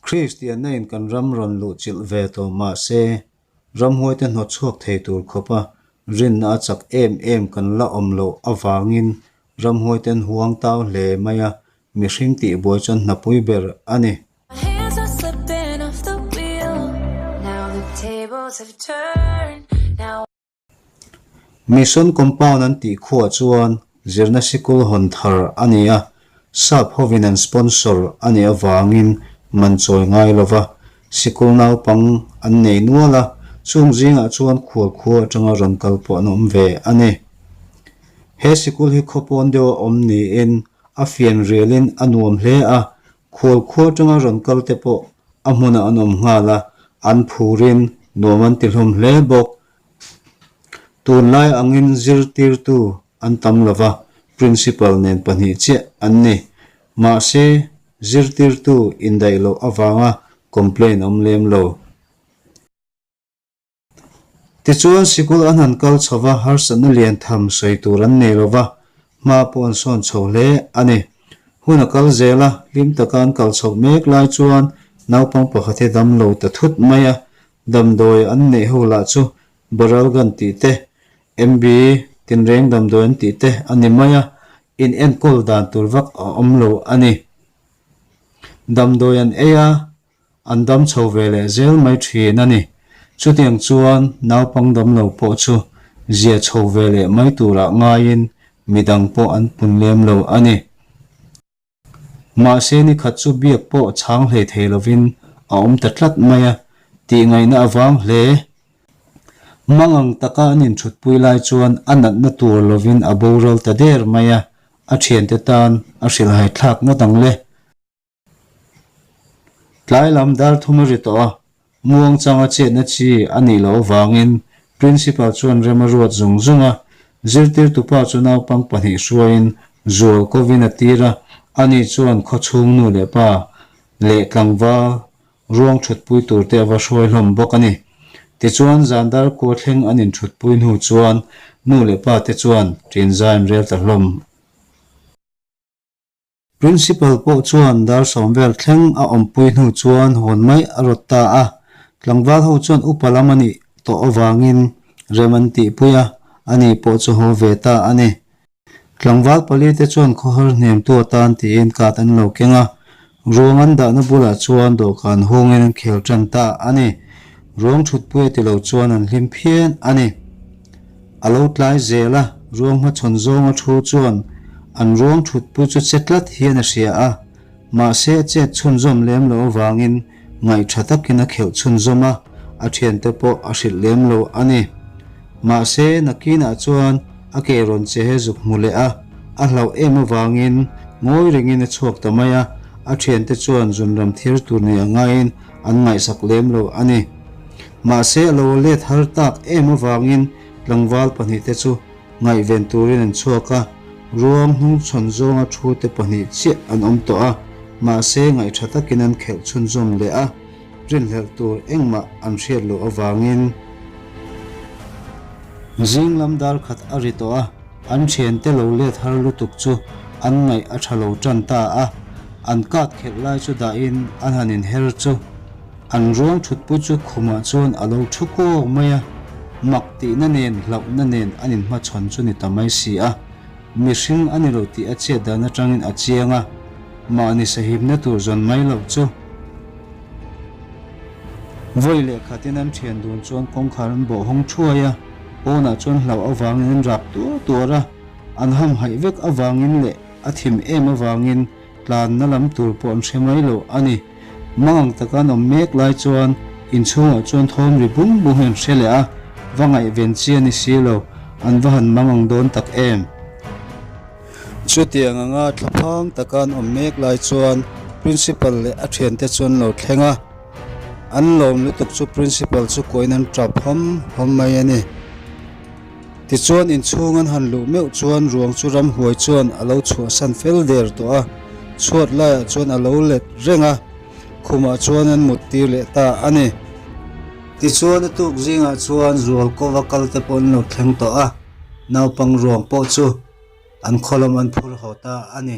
Kristianain kan ram rawn luh chilh ve tawh mah se, ramhuaite hnawtchhuak thei tur khawpa rinna a chak em em kan la awm loh avangin ramhuaiten huang tau hle mai a, mihring tihbuai chuan hnapui ber a ni. Mission Compound an tih khuaa chuan zirna sikul hawn thar a ni a, sap hovin an sponsor a nih avangin man chawi ngai lo va, sikul naupang an nei nual a, chung zingah chuan khual khuaa atanga rawn kal pawh an awm ve a ni. He sikul hi khaw pawn deuha awm niin a fianrialin a nuam hle a, Khual khua atanga rawn kal te pawh a hmunah an awm nghal a, an phurin nuam an ti hlawm hle bawk. Tunlai angin zirtirtu an tam lo va, Principal nen pahnih chiah an ni. Mahse, zirtirtu indaih loh avanga complain awm lem lo. Tichuan sikul an han kal chho va, harsatna lian tham sawi tur an nei lo va, hma pawh an sawn chho hle a ni. Hun a kal zel a, hlim taka an kal chhoh mek lai chuan naupang pakhat hi dam lo ta thut mai a, damdawi an neih ho lah chu Boral gan tih te, MB tinreng damdawi an tih te a ni mai a, inenkawl dan tur vak a awm lo a ni. Damdawi an ei a, An dam chho ve leh zel mai thin a ni. Chutiang chuan naupang damlo pawh chu zia chho ve leh mai turah ngaiin midang pawh an pun lem lo a ni. Mahse nikhat chu biak pawh chhang hlei thei lovin a awm ta tlat mai a, tih ngaihna a vang hle. Mangang taka an inthutpui lai chuan a natna tur lovin a boral ta der mai a, a thiante tan a hrilh haithlak ngawt ang le. Tlai lam dar thum a ri tawh a, muang chang a chetna chi a nih loh avangin Principal chuan rem a ruat zung zung a. Zirtirtu pa chu naupang pahnih hruaiin zual kovin a tir a, ani chuan khawchhungnu leh pa leh tlangval ruang thutpui turte a va hruai hlawm bawk a ni. Tichuan zan dar kua thleng an inthutpui hnu chuan nu leh pa te chuan ṭinzain rel ta hlawm a. Principal pawh chuan dar sawm vel thleng a awmpui hnu chuan hawn mai a rawt ta a, tlangval ho chuan upa lam a nih tawh avangin rem an tihpui a, a ni pawh chu haw ve ta a ni. Tlangval pali te chuan khawhar hniamtu a tan tiin kat an lo keng a, ruang an dahna bulah chuan dawhkan hungin an khel tan ta a ni. Ruang thutpuia ti lo chuan an hlim phian a ni. A lo tlai zel a, ruang hmachhawn zawng a thu chuan an ruang thutpui chu che tlat hian a hria a, mahse a chet chhunzawm lem loh avangin ngaih tha takin a kheuh chhunzawm a, a thiante pawh a hrilh lem lo a ni. Mahse, nakinah chuan a ke rawn che he zuk hmu leh a, a hlauh em avangin ngawi rengin a chhuak ta mai a, a thiante chuan zunram thir tur nei a ngaiin an ngaihsak lem lo a ni. Mahse a lo let har tak em avangin tlangval pahnih te chu ngaihven turin an chhuak a, ruang hnung chhawn zawnga thu te pahnih chiah an awm tawh a, mahse ngaih tha takin an khelh chhunzawm leh a, rinhlelh tur engmah an hriat loh avangin. Zing lam dar khat a ri tawh a, an thian te lo let har lutuk chu an ngaih a tha lo tan ta a, an kat khelh lai chu dahin an han inher chu. An ruang thutpui chu khumah chuan a lo thu kawk mai a, mak tihna nen hlauhna nen an inhmachhawn chu ni ta mai si a, mihring a ni lo tih a chhiat dan atangin a chiang a, mahni sahipna tur zawn mai loh chu. Vawi leh khatin an thian dun chuan kawngkhar an bawh hawng thuai a, pawnah chuan hlauh avangin an rak tuar tuar a, an hamhaih vek avangin leh a thim em avangin tlanna lam tur pawh an hre mai loh a ni. Mangang taka an awm mek lai chuan inchhungah chuan thawm ri bum bum em hre leh a, va ngaihven chi a ni si lo, an va han mangang dawn tak em? Chutiang anga thla phang taka an awm mek lai chuan Principal leh a thiante chu an lo thleng a, an lawm lutuk chu Principal chu kuahin an ṭap hawm hawm mai a ni. Tichuan inchhung an han luh meuh chuan ruang chu ram huai chuan a lo chhuahsan fel der tawh a, chhuat laiah chuan a lo let reng a, khumah chuan an mut tir leh ta a ni. Tichuan a tuk zingah chuan zual kova kal te pawh an lo thleng tawh a, naupang ruang pawh chu an khawlawm an phur haw ta a ni.